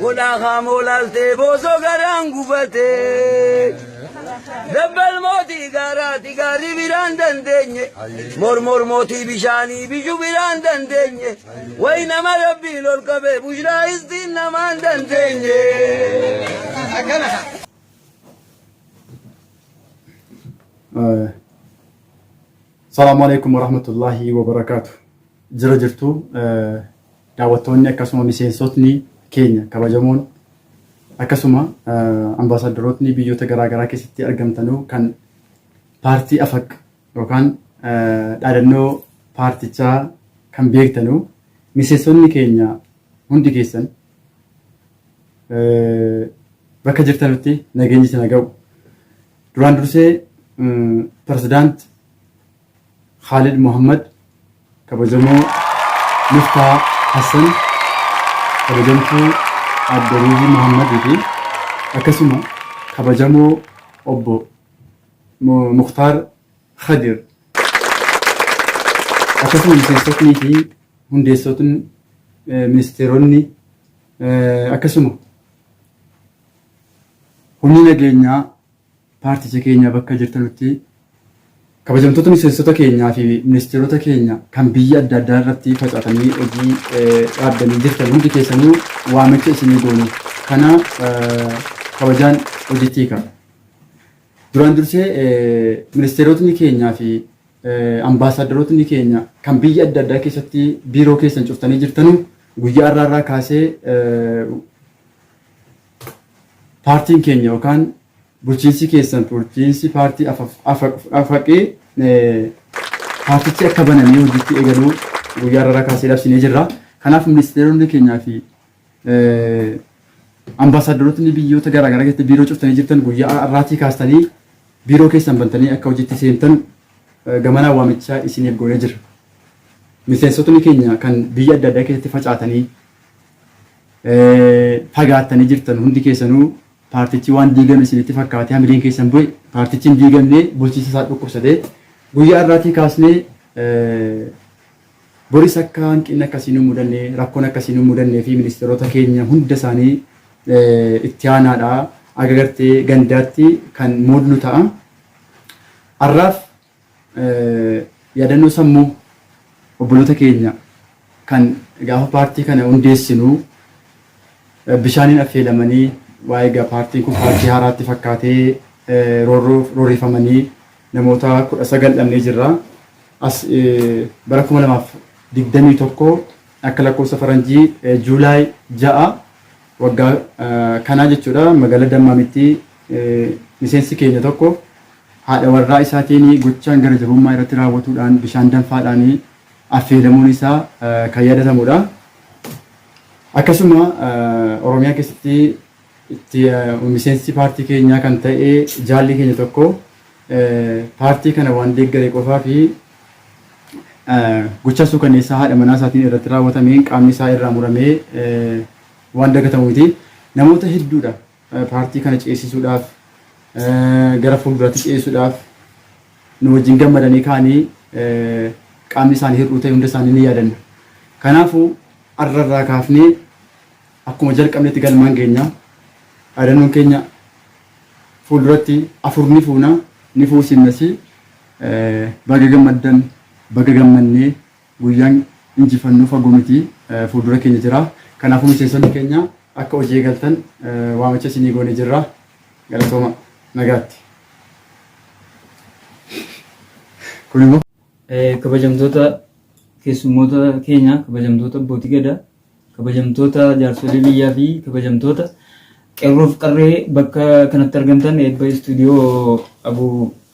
Godhaa kaamoo laaltee boosoo garaan gufatee. Dabbal mootii gaaraati gaarri biraan dandeenye. Mormor mootii bishaanii bishu biraan dandeenye. Wayi nama rabbiin ol qabee bushraa istiin namaan dandeenye. Salaamu alaikum warahmatullahi wabarakaatu. Jira jirtu Daawwattoonni akkasuma miseensotni keenya kabajamoon akkasuma ambaasaaddarootni biyyoota garaa garaa keessatti argamtanuu kan paartii afaq yookaan dhaadannoo paartichaa kan beektanuu miseensotni keenya hundi keessan bakka jirtanutti nageenyi isin haa ga'u. Duraan dursee pirezidaant Khaalid Mohammad, Kabajamoo Miftaa Hassan, Kabajamtuu Aadde Ruuzii Mohammad fi akkasuma Kabajamoo Obbo Muktaar Khadir akkasuma miseensotnii fi hundeessotni ministeeronni akkasuma humni nageenyaa Paarticha keenya bakka jirtanutti kabajamtoota miseensota keenyaa fi ministeerota keenya kan biyya adda addaa irratti facaatanii hojii dhaabdanii jirtan hundi keessanuu waamicha isinii goonu kana kabajaan hojiitti hiika. Duraan dursee ministeerotni keenyaa fi ambaasaaddarootni keenya kan biyya adda addaa keessatti biiroo keessan cuftanii jirtanu guyyaa irraa irraa kaasee paartiin keenya yookaan bulchiinsi keessan bulchiinsi paartii afaqee paartichi akka banamee hojiitti eegaluu guyyaa irraa kaasee labsinee jirra. Kanaaf ministeeronni keenyaa fi ambaasaaddarootni biyyoota garaagaraa keessatti biiroo cuftanii jirtan guyyaa irraatii kaastanii biiroo keessan bantanii akka hojiitti seentan gamanaa waamichaa isiniif goonee jira. Miseensotni keenya kan biyya adda addaa keessatti facaatanii fagaattanii jirtan hundi keessanuu paartichi waan diigame isinitti fakkaatee hamileen keessan bu'e paartichi hin diigamne bulchiinsa isaa dhukkubsatee guyyaa irraatii kaasnee boris akka hanqinni akkasii nu mudanne rakkoon akkasii nu mudannee fi ministeerota keenya hunda isaanii itti aanaadha agagartee gandaatti kan muudnu ta'a. Har'aaf Yaadannoo sammuu obboloota keenya kan gaafa paartii kana hundeessinu bishaaniin affeelamanii waa'ee egaa paartiin kun paartii haaraatti fakkaatee roorroof roorrifamanii namoota kudha sagal dhabnee jirra. As bara kuma lamaaf digdamii tokko akka lakkoofsa faranjii juulaay ja'a waggaa kanaa jechuudha magaalaa Dammaamitti Miseensi keenya tokko haadha warraa isaatiin gochaan gara jabummaa irratti raawwatuudhaan bishaan danfaadhaan affeelamuun isaa kan yaadatamudha. Akkasuma Oromiyaa keessatti itti miseensi paartii keenyaa kan ta'e jaalli keenya tokko paartii kana waan deeggare qofaa fi gochaa suukanneessaa haadha manaa isaatiin irratti raawwatameen qaamni isaa irraa muramee waan dagatamu miti. Namoota hedduudha Paartii kana ceesisuudhaaf, gara fuulduraatti ceesisuudhaaf nu wajjin gammadanii ka'anii qaamni isaanii hir'uu ta'e hunda isaanii ni yaadanna. Kanaafuu har'a irraa kaafnee akkuma jalqabnetti galmaan geenya. Dhaadannoon keenya fuulduratti afur ni fuuna, ni fuusimnas. Baga gammaddan, baga gammannee, Guyyaan injifannoo fagoo miti, fuuldura keenya jira. Kanaafuu miseensonni keenya akka hojii eegaltan waamicha isinii goonee jirra. Galatooma. Nagaatti. Kun immoo. Kabajamtoota keessummoota keenya, kabajamtoota Abbootii Gadaa. Kabajamtoota jaarsolii biyyaa fi kabajamtoota qeerroof qarree bakka kanatti argamtan eebba istuudiyoo abu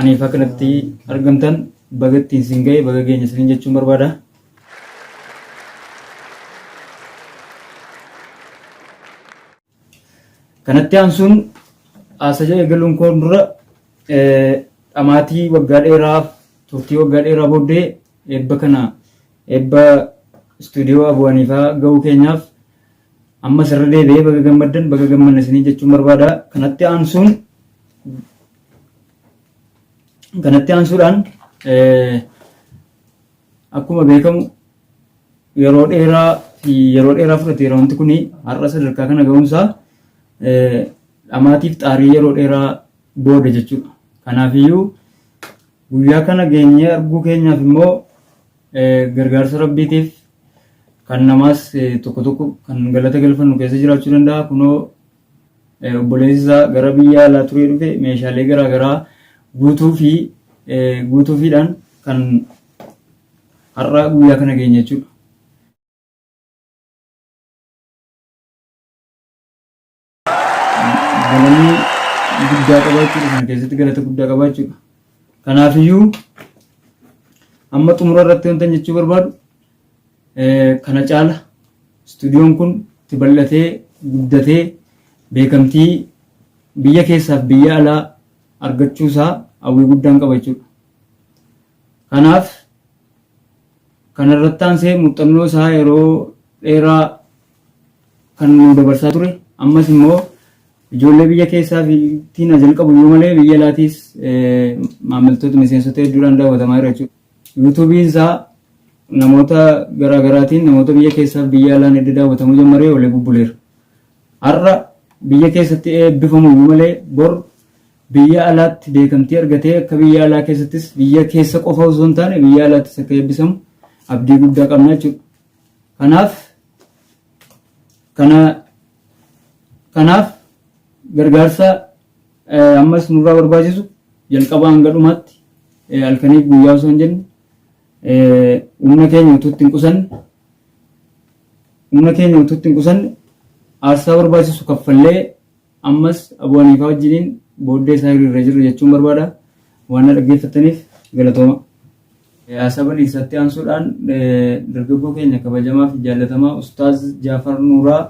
aniifaa kanatti argamtan baga ittiin siin ga'e baga geenya isiniin jechuun barbaada. Kanatti aansuun haasaja eegaluun koon dura dhamaatii waggaa dheeraa turtii waggaa dheeraa booddee eebba kana eebba istuudiyoo Abuu Haniifaa ga'uu keenyaaf ammas irra deebi'ee baga gammaddan baga gammanne isiniin jechuun barbaada. Kanatti aansuun kanatti aansuudhaan akkuma beekamu yeroo dheeraa fi yeroo dheeraa fudhateera wanti kun har'a sadarkaa kana ga'umsaa dhamaatiif xaarii yeroo dheeraa booda jechuudha. Kanaafiyyuu guyyaa kana geenyee arguu keenyaaf immoo gargaarsa rabbiitiif kan namaas tokko tokko kan galata galfannu keessa jiraachuu danda'a. Kunoo obboleessi isaa gara biyya alaa turee dhufe meeshaalee garaagaraa guutuu fi guutuufiidhaan kan Har'a guyyaa kana geenye jechuudha. Galanni guddaa qaba jechuudha. Kana keessatti galata guddaa qaba jechuudha. Kanaafiyyuu amma xumura irratti wantan jechuu barbaadu kana caala istuudiyoon kun itti bal'atee guddatee beekamtii biyya keessaaf biyya alaa argachuusaa hawwii guddaan qaba jechuudha. Kanaaf, kana irratti aansee muuxxannoo isaa yeroo dheeraa kan nuu dabarsaa ture, ammas immoo ijoollee biyya keessaa fi tiin haa jalqabu iyyuu malee biyya alaatiis maammiltoota miseensota hedduudhaan daawwatamaa jira jechuudha. Yuutuubiin isaa namoota garaa garaatiin namoota biyya keessaa fi biyya alaan edda daawwatamuu jammaree oolee bubbuleera. Har'a biyya keessatti eebbifamu iyyuu malee bor Biyya alaatti beekamtii argatee akka biyya alaa keessattis biyya keessa qofa osoo hin taane biyya alaattis akka eebbisamu abdii guddaa qabna jechuudha. Kanaaf kana kanaaf gargaarsa eh, ammas nurraa barbaachisu jalqaba hanga dhumaatti eh, halkaniif guyyaa osoo hin jenne eh, humna keenya utuu itti hin qusanne humna keenya utuu itti hin qusanne aarsaa barbaachisu kaffallee Ammas Abuu Haniifaa wajjiniin booddee isaa hiriirra jirra jechuun barbaada. Waan na dhaggeeffattaniif galatooma. Asabal Iisaatti aansuudhaan dargaggoo keenya kabajamaa fi jaallatamaa Ustaaz Jaafar Nuuraa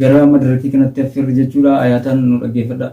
gara madarakii kanatti affeerra jechuudha. Ayaataan nu dhaggeeffadhaa.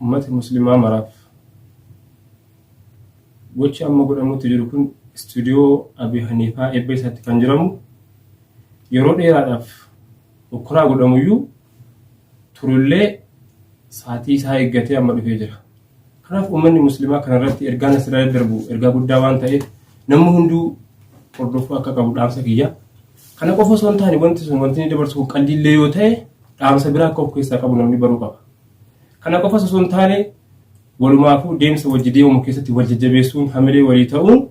Ummata Muslimaa maraaf. Gochi amma godhamuutti jiru kun istuudiyoo Abii Haniifaa eebba isaatti kan jiramu yeroo dheeraadhaaf hokkoraa godhamuyyuu turullee saatii isaa eeggatee amma dhufee jira. Kanaaf uummanni muslimaa kanarratti ergaan asirraa daddarbu ergaa guddaa waan ta'eef namni hunduu hordofuu akka qabu dhaamsa kiyya. Kana qofa osoo hin taane wanti sun wanti inni dabarsu qalliillee yoo ta'e dhaamsa biraa akka of keessaa qabu namni baruu qaba. Kana qofas osoo hin taane walumaafuu deemsa wajji deemamu keessatti wal jajjabeessuun hamilee walii ta'uun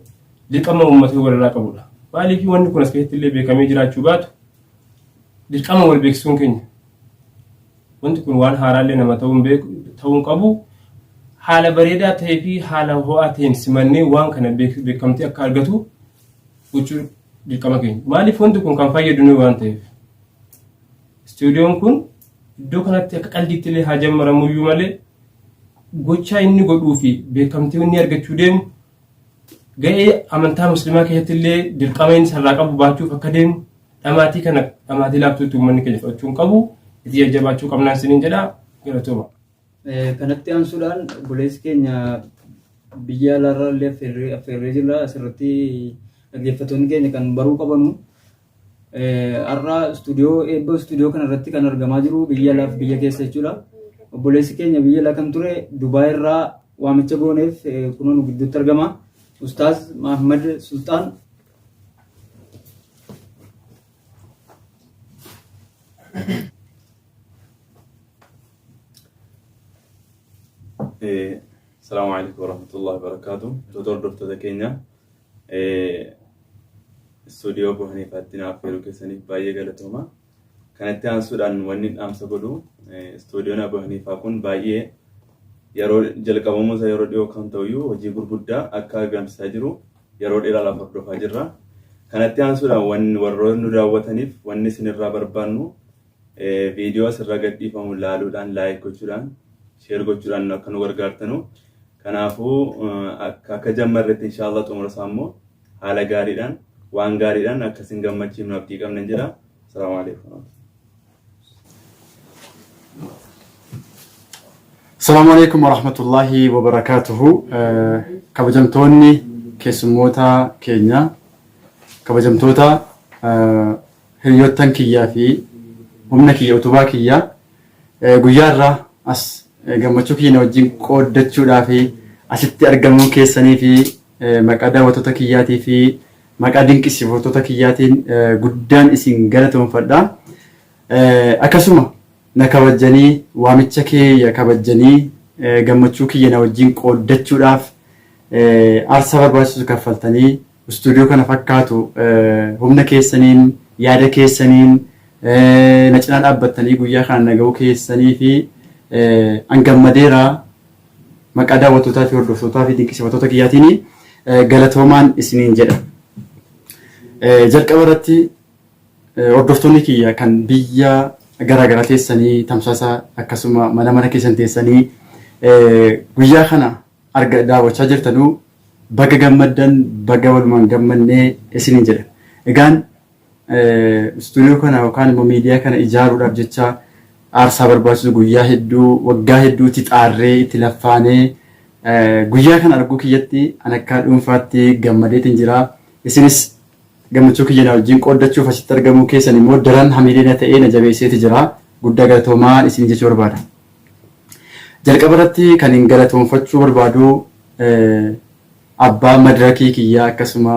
dirqama uummatni walirraa qabudha. Maaliif wanni kun as keessatti illee beekamee jiraachuu baatu dirqama wal beeksisuun keenya wanti kun waan haaraa illee nama ta'uun beeku ta'uun qabu haala bareedaa ta'ee fi haala ho'aa ta'een simannee waan kana beek- beekamtii akka argatu gochuu dirqama keenya. Maaliif wanti kun kan fayyadu nuyi waan ta'eef. Istuudiyoon kun iddoo kanatti akka qaldiitti illee haa jammaramu iyyuu malee gochaa inni godhuu fi beekamtii inni argachuu deemu ga'ee amantaa muslimaa keessatti illee dirqama inni sarraa qabu baachuuf akka deemu dhamaatii kana dhamaatii laaftuutti uummanni keenya fudhachuu hin qabu itti jajjabaachuu qabnaan isiniin jedha galatooma. Kanatti aansuudhaan obboleessi keenya biyya alaarraa illee affeerree jirra asirratti dhaggeeffattoonni keenya kan baruu qabanu. Har'a istuudiyoo eebba istuudiyoo kanarratti kan argamaa jiru biyya alaaf biyya keessa jechuudha. Obboleessi keenya biyya alaa kan ture Dubaay irraa waamicha gooneef kunoo nu gidduutti argama. Ustaaz Mahammad Sultaan. Salaamu alaikum warahmatullahi wabarakatuh. Tutor hordoftoota keenya. Istuudiyoo Bohanii Faatti naaf yeroo keessaniif baay'ee galatooma. Kanatti aansuudhaan wanni dhaamsa godhu istuudiyoon Bohanii Faa kun baay'ee yeroo jalqabamuu isaa yeroo dhiyoo kan ta'uyyuu hojii gurguddaa akka argamsiisaa jiru yeroo dheeraadhaaf hordofaa jirra. Kanatti aansuudhaan warroonni nu daawwataniif wanni isinirraa barbaannu Viidiyoo asirra gadhiifamu laaluudhaan, like gochuudhaan, share gochuudhaan akka nu gargaartanu. Kanaafuu akka akka jammarretti inshaallah xumura isaa immoo haala gaariidhaan waan gaariidhaan akka isin gammachiifnu abdii qabna jedha. Assalaamu alaikum. Salaamu alaikum warahmatullahi wabarakaatuhu. Kabajamtoonni keessummoota keenya kabajamtoota Hiryoottan kiyyaa fi humna kiyya utubaa kiyyaa guyyaa irraa as gammachuu kiyya na wajjin qooddachuudhaa fi asitti argamuun keessanii fi maqaa daawwattoota kiyyaatii fi maqaa dinqisiifattoota kiyyaatiin guddaan isin galatoonfadha. Akkasuma na kabajjanii waamicha keeya kabajjanii gammachuu kiyya na wajjin qooddachuudhaaf aarsaa barbaachisu kaffaltanii Studio kana fakkaatu humna keessaniin, yaada keessaniin, na cinaa dhaabbattanii guyyaa kana na ga'uu keessaniifi an gammadeera. Maqaa daawwattootaa fi hordoftootaa fi dinqisiifattoota kiyyaatiin galatoomaan isiniin jedha. Jalqaba irratti hordoftoonni kiyya kan biyya garaa garaa teessanii tamsaasa akkasuma mana mana keessan teessanii guyyaa kana arga daawwachaa jirtanuu baga gammaddan baga walumaan gammannee isiniin jedha. Egaan studio kana yookaan immoo miidiyaa kana ijaaruudhaaf jecha aarsaa barbaachisu guyyaa hedduu waggaa hedduu itti xaarree itti laffaanee guyyaa kana arguu kiyyatti an akka dhuunfaatti gammadeetiin jira. Isinis gammachuu kiyya na wajjin qooddachuuf asitti argamuu keessan immoo daran hamilee na ta'ee na jabeesseeti jira. Guddaa galatoomaa isin jechuu barbaada. Jalqaba irratti kanin galatoomfachuu barbaadu abbaa madrakii kiyyaa akkasuma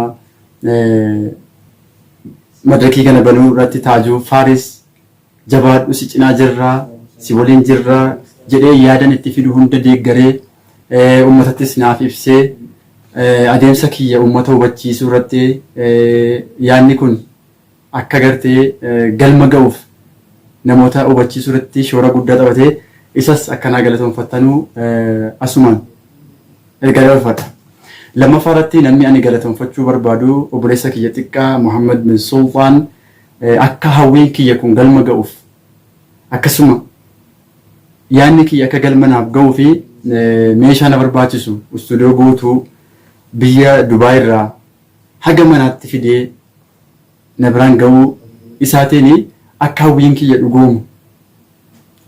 madrakii kana banuu irratti Taajuu Faaris jabaadhu si cinaa jirra si waliin jirra jedhee yaadan itti fidu hunda deeggaree ummatattis naaf ibsee adeemsa kiyya ummata hubachiisuu irratti yaadni kun akka gartee galma ga'uuf namoota hubachiisuu irratti shoora guddaa taphate isas akkanaa galatoonfattanu asumaan ergaa dabarfadha. Lammaffaa irratti namni ani galatoonfachuu barbaadu obboleessa kiyya xiqqaa Muhammad bin Sultaan akka hawwiin kiyya kun galma ga'uuf akkasuma yaanni kiyya akka galma naaf ga'uu fi meeshaa na barbaachisu istuudiyoo guutuu biyya Dubaay irraa haga manaatti fidee na biraan ga'uu isaatiin akka hawwiin kiyya dhugoomu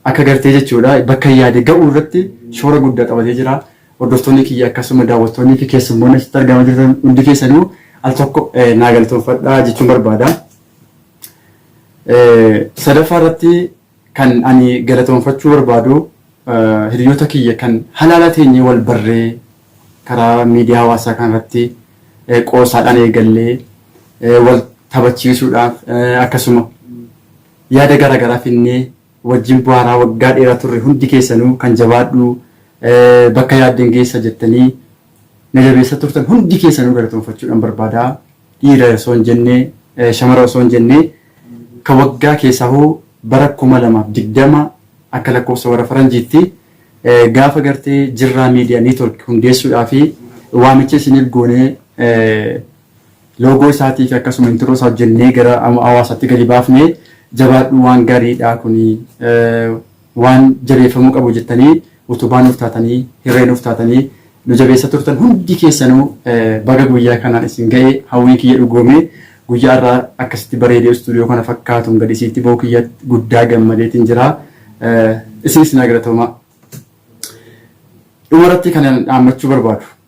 akka gartee jechuudha bakka yaade ga'uu irratti shoora guddaa taphatee jira. Hordoftoonni kiyya akkasuma daawwattoonnii fi keessummoonni asitti argamaa jirtan hundi keessanuu al tokko naa galatoomfadhaa jechuun barbaada. Sadaffaa irratti Kan ani galatoonfachuu barbaadu hiriyoota kiyya kan halaala teenyee wal barree karaa miidiyaa hawaasaa kana irratti qoosaadhaan eegallee wal taphachiisuudhaaf akkasuma yaada garaa garaa finnee wajjin bu'aaraa waggaa dheeraa turre hundi keessanuu kan jabaadhu bakka yaadden geessa jettanii na jabeessa turtan hundi keessanuu galatoonfachuudhaan barbaada. dhiira osoo hin jenne shamara osoo hin jenne ka waggaa keessaahuu bara 2020 akka lakkoofsa warra faranjiitti gaafa gartee jirraa media network hundeessuudhaa fi waamicha isiniif goonee loogoo isaatii fi akkasuma intiroo isaa hojjennee gara hawaasatti gadi baafne jabaadhuu waan gariidhaa kuni Waan jabeeffamuu qabu jettanii utubaa nuuf taatanii, hirree nuuf taatanii nu jabeessaa turtan hundi keessanuu baga guyyaa kanaan isin ga'e hawwiin kiyya dhugoome. Guyyaa har'aa akkasitti bareedee istuudiyoo kana fakkaatuun gad isiitti ba'uu kiyyatti guddaa gammadeetiin jira. Isinis naa galatoomaa. Dhumarratti kanan dhaammachuu barbaadu.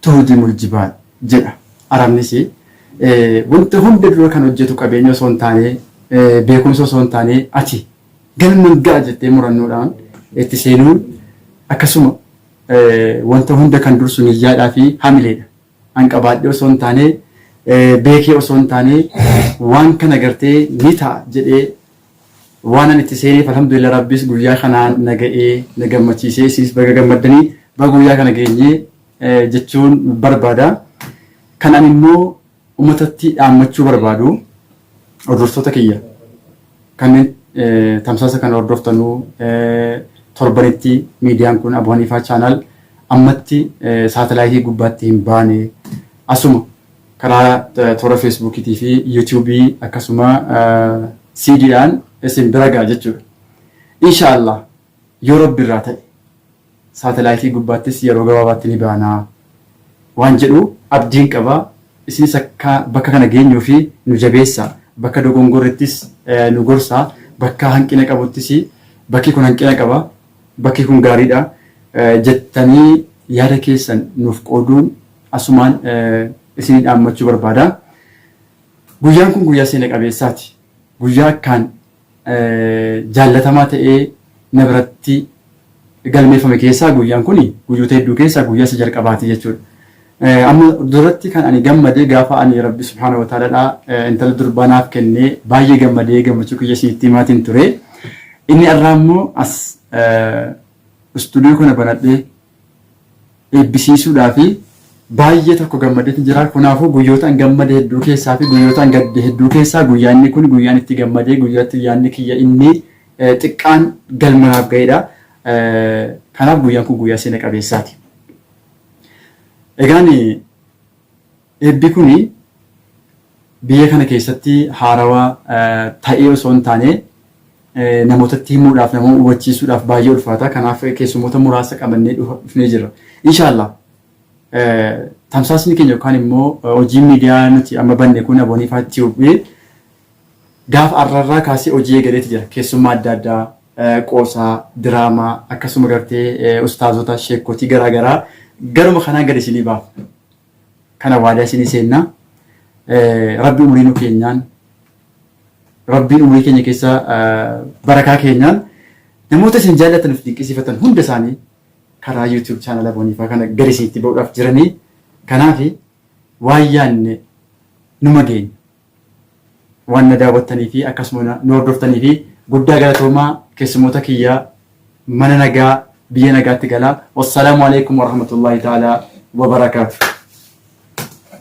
Tuhdimul-jibaal jedha Arabnisi. Wanta hunda dura kan hojjetu qabeenya osoo hin taane, beekumsa osoo hin taane ati galman ga'a jettee murannoodhaan itti seenuun akkasuma wanta hunda kan dursu niyyaadhaa fi hamileedha. An qabaadhee osoo hin taane, beekee osoo hin taane waan kana gartee ni ta'a jedhee Waanan itti seeneef alhamdulillah Rabbis guyyaa kanaan na ga'ee na gammachiisee isinis baga gammaddanii baga guyyaa kana geenye jechuun barbaada. Kan ani immoo ummatatti dhaammachuu barbaadu hordoftoota kiyya kanneen tamsaasa kana hordoftanuu torbanitti miidiyaan kun Abu Haniifaa Chaanaal ammatti saatalaayitii gubbaatti hin baane asuma Karaa toora Facebook fi YouTube akkasuma CD dhaan isin bira ga'a jechuudha. Insha Allah yoo Rabbi irraa ta'e saatelaayitii gubbaattis yeroo gabaabaatti ni baana waan jedhu abdiin qaba. Isinis akka bakka kana geenyuu fi nu jabeessa. Bakka dogongorrittis nu gorsa. Bakka hanqina qabuttis bakki kun hanqina qaba. Bakki kun gaariidha jettanii yaada keessan nuuf qooduun Asumaan isinii dhaammachuu barbaada. Guyyaan kun guyyaa seena qabeessaati. Guyyaa akkaan jaallatamaa ta'ee na biratti galmeeffame keessaa guyyaan kun guyyoota hedduu keessaa guyyaa isa jalqabaati jechuudha. Amma duratti kan ani gammade gaafa ani Rabbi subhaanahu wa ta'aalaadhaa intala durbaa naaf kennee baay'ee gammadee gammachuu kiyya isinitti himaatiin ture. Inni irraa immoo as istuudiyoo kana banadhee eebbisiisuudhaa fi baay'ee tokko gammadeetu jira. Kanaafuu guyyoota an gammade hedduu keessaa fi guyyoota an gadde hedduu keessaa guyyaa inni kun guyyaan itti gammadee guyyaatti yaadni kiyya inni xiqqaan galma naaf ga'edha. Kanaaf guyyaan kun guyyaa seena qabeessaati. Egaan Eebbi kun biyya kana keessatti haarawa ta'ee osoo hin taane namootatti himuudhaaf, nama hubachiisuudhaaf baay'ee ulfaata. Kanaaf keessummoota muraasa qabannee dhufnee jirra. Inshaallah tamsaasni keenya yookaan immoo hojiin miidiyaa nuti amma banne kun Abonify Tube gaafa arrarraa kaasee hojii eegaleeti jira. Keessummaa adda addaa qoosaa, diraamaa akkasuma gartee ustaazota, sheekkotii garaa garaa garuma kanaan gad isinii baafna. Kana waadaa isinii seenna. Rabbi umurii nu keenyaan Rabbiin umurii keenya keessa barakaa keenyaan namoota isin jaallatan of dinqisiifatan hunda isaanii karaa YouTube chaanala Booniifaa kana gadi isinitti ba'uudhaaf jiranii kanaafi waan yaanne numa geenya. Waan na daawwattanii fi akkasuma na nu hordoftaniifi guddaa galatoomaa keessummoota kiyya mana nagaa biyya nagaatti galaa. Wassalaamu Aleeykum Warahmatullaahi Ta'aalaa Wabarakaatuh.